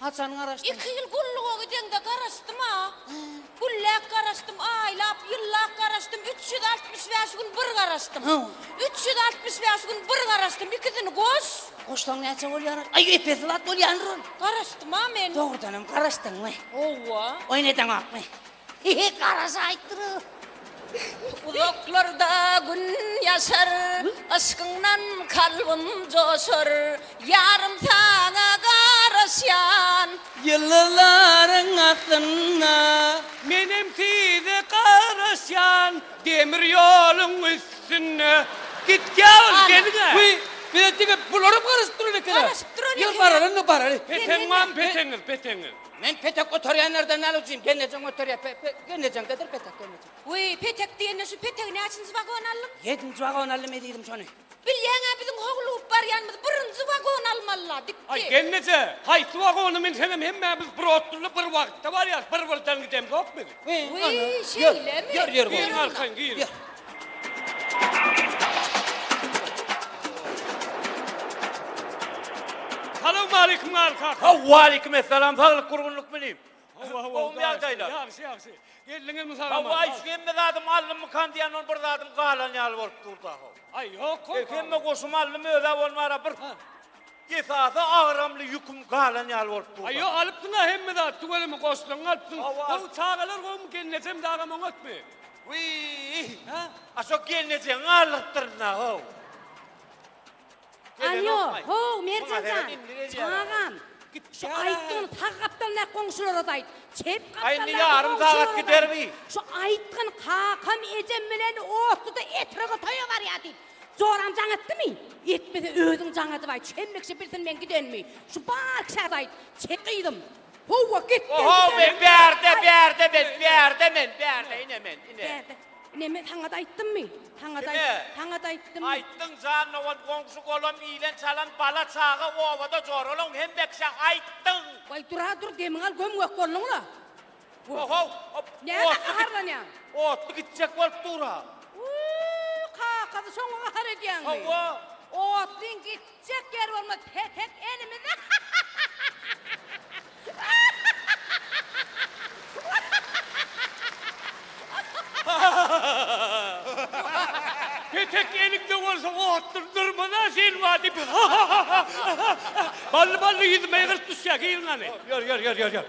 Haçan garaşdyň? Iki ýyl gulluga gideňde garaşdym-a. Gülläp garaşdym, aýlap, ýyllap garaşdym, üç ýüz altmyş bäş gün bir garaşdym. Üç ýüz altmyş bäş gün bir garaşdym, ikisini goş. Goşsaň näçe bolýar? Aý, epesi wagt bolýandyr ol. Garaşdym-a men. Dogrudanam garaşdyňmy? Hawa. Oýun edeňokmy? Hehe garaja aýtdyra. Uzaklarda gün ýaşar, yşkyňdan kalbym joşar, ýarym saňa garaşýan. Ýyldyzlaryň astynda. Menem size garaşýan. Demir ýoluň üstünde. Gitgä ol geliň-ä. Wiý, bize diňe bularam garaşyp duran ekeni. Garaşyp duran ekeni. Ýör baraly-da baraly. Peteň barmy peteňiz, peteňiz? Men petek göterýänlerden näl ujyň, gelnejeň göterýär, pe-pe, gelnejeňdedir petek, gelnejeň. Wiý, petek diýende şu petegi näçinji wagon aldyň? Ýedinji wagon aldym ezizim şony. Bilýäň-ä biziň howlugyp barýanymyzy birinji wagon almaly-la, dikdi. Aý, gelneje, haýsy wagona minseňem hemmämiz bir otlyda bir wagtda barýarys, bir-birden gidemzok biz. Gyň, ana, ýör, ýör, ýör, gowy. Giň arkaýyn, giň. Ýör. Salawmaleýkim, Garry kaka. Haw, waleýkim essalam, saglyk, gurgunlyk mini? Hawa, hawa, Gowumy garaşyň, ýagdaýlar? Ýagşy, ýagşy. Geldiňizmi sag-aman? Hawa, aý, şu hemme zadymy aldymmykan diýýän, ol bir zadym galan ýaly bolup dur-da, haw. Aý, ýok, goý, Hemme goşumy aldym, öz-ä bolmara bir. Esasy agramly ýüküm galan ýaly bolup dur. Aýo alypsyňa hemme zat tüweleme goşlaryňy alypsyň gowy çagalar gowmy gelnejem dagam oňatmy. Wiýh ha a şo gelnejeňi aldyrypdyrynda how. Alýo how Merjenjan çagam git şu aýtdygyny sag gapdalyndaky goňşularaz aýt çep gapdalyndaky goňşularaz aýt şu aýtgyny kakam ejem bilen otluda etrega toýa barýa diýip Joram jaň etdimi? Etmese özüň jaň edibaý. Çemme kişi bilsin men gidenimi. Şu bar kişä aýt. Çek gyzym. Howwa git. Oho men bärde bärde men bärde men bärde ine men ine. Bärde. Ine men saňada aýtdymmy? Saňada saňada aýtdym. Aýtdyň jan owan goňşy golam ilen çalan bala çaga obada jor olaň hemme kişä aýtdyň. Waý dura dur demiň al göm gök bolnuňla. Ho-how! Näme gaharlanýaň? Otly gitjek bolup dur-a! Uu, kakasy şoňa gahar edýäňmi? Hawa! Otlyň gitjek ýeri bolmaz, petek elimizde! Petek eliňde bolsa otlyny dyrmaz-a sen wah diýip! Bally-bally ýüzüme ýygyrt düşýä, giň gany! Ýör, ýör, ýör, ýör, ýör!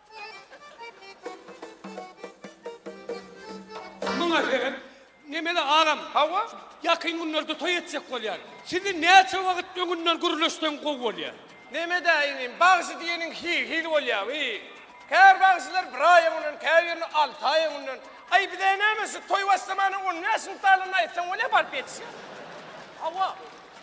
Muňa sebäp Nemeli agam? Hawa. Ýakyn günlerde toý etjek bolýar. Sizi näçe wagt öňünden gürleşseň gowy bolýar. Nemede inim, bagşy diýeniň hil-hil bolýar, hil. Käbir bagşylar bir aý öňünden, käbirini alty aý öňünden. Aý, bizä näme, şu toý başlamana on bäş gün galanda aýtsaň bolýar, baryp ýetişýär. Hawa,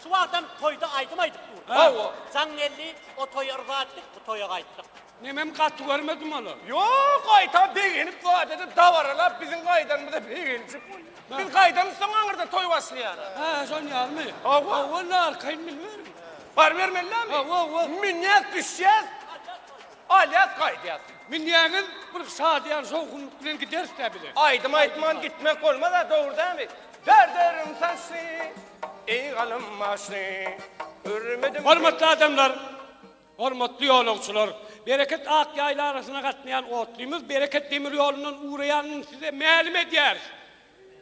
şu wagtam toýda aýdym aýdyp dur. Hawa. Jaň geldi, o toýa yza aýtdyk, bu toýa gaýtdyk. Nemem gaty görmedim ol. Ýok, gaýtam begenip badede dabaralap biziň gaýdanymyza begenjek bolýar. Biz gaýdamyz soň aňyrda toý başlaýar. Hä, şon ýalymy? Hawa. Hawa, onda arkaýyn bilmerin. Bar bermelidami? Hawa, hawa. Münýäs, düşýäs. Alýas, gaýdýas. Münýäňiz, bir şadyýan şowhunlyk bilen gideris-dä bize. Aýdym aýtman gitmek bolmaz-a, dogry dämi? Derderim saçly, eý galym başly, Görmedim. Hormatly adamlar! Hormatly ýolagçylar! Bereket ak ýaýla arasyna gatnaýan otlymyz Bereket demir ýolundan ugraýanyny size mälim edýäris.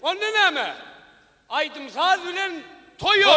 Onda näme? Aýdym-saz bilen toýa!